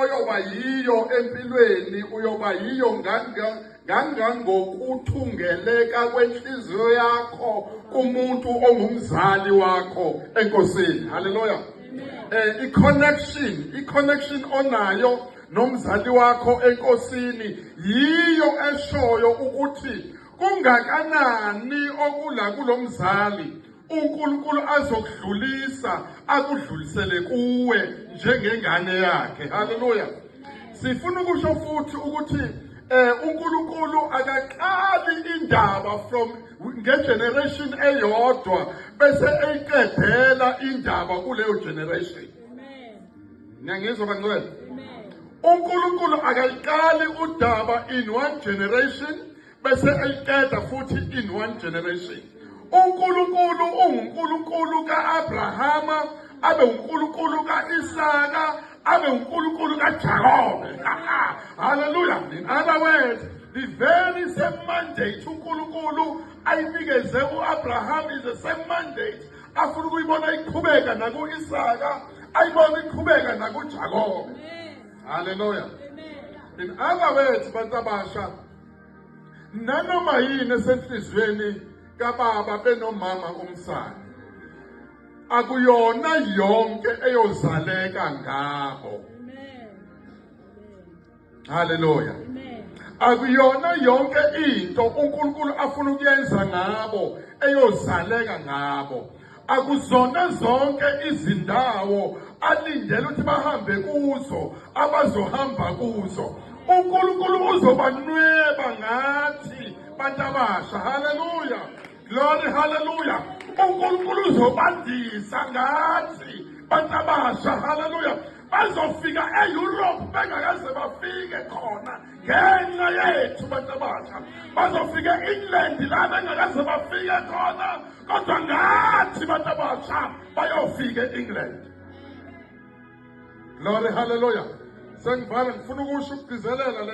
oyoba yiyo empilweni uyoba yiyo ngangangokuthungeleka kwenhliziyo yakho kumuntu ongumzali wakho enkosini haleluya eh i-connection i-connection onayo nomzali wakho enkosini yiyo eshoyo ukuthi kungakanani okula kulomzali uNkulunkulu azokudlulisa akudlulisele kuwe njengengane yakhe haleluya sifuna ukusho futhi ukuthi eh uNkulunkulu akaqali indaba from ngegeneration eyodwa bese eyiqedela indaba kuleyo generation amen niyangizwa bangcwele amen uNkulunkulu akayiqali udaba in one generation bese eyiqeda futhi in one generation uNkulunkulu unguNkulunkulu ka-Abrahama abe uNkulunkulu ka-Isaka abe uNkulunkulu kaJakobe haleluya in other words the very same mandate uNkulunkulu ayinikeze u-Abraham is the same mandate afuna ukuyibona iqhubeka naku-Isaka ayibona iqhubeka nakuJakobe haleluya in other words bantu abasha nanoma yini esenhliziyweni kababa benomama umsana akuyona yonke eyozaleka ngabo haleluya akuyona yonke into uNkulunkulu afuna ukuyenza ngabo eyozaleka ngabo Akuzona zonke izindawo alindele ukuthi bahambe kuzo abazohamba kuzo. UNkulunkulu uzobanweba ngathi bantu abasha. Haleluya. Glory haleluya. UNkulunkulu uzobandisa ngathi bantu abasha. Haleluya. Bazofika e-Europe bengakaze bafike khona ngenxa yethu bantu abasha. Bazofika e-England la bengakaze bafike khona kodwa ngathi abantu abasha bayofika e-england glory hallelujah sengivala ngifuna ukusho ukugcizelela le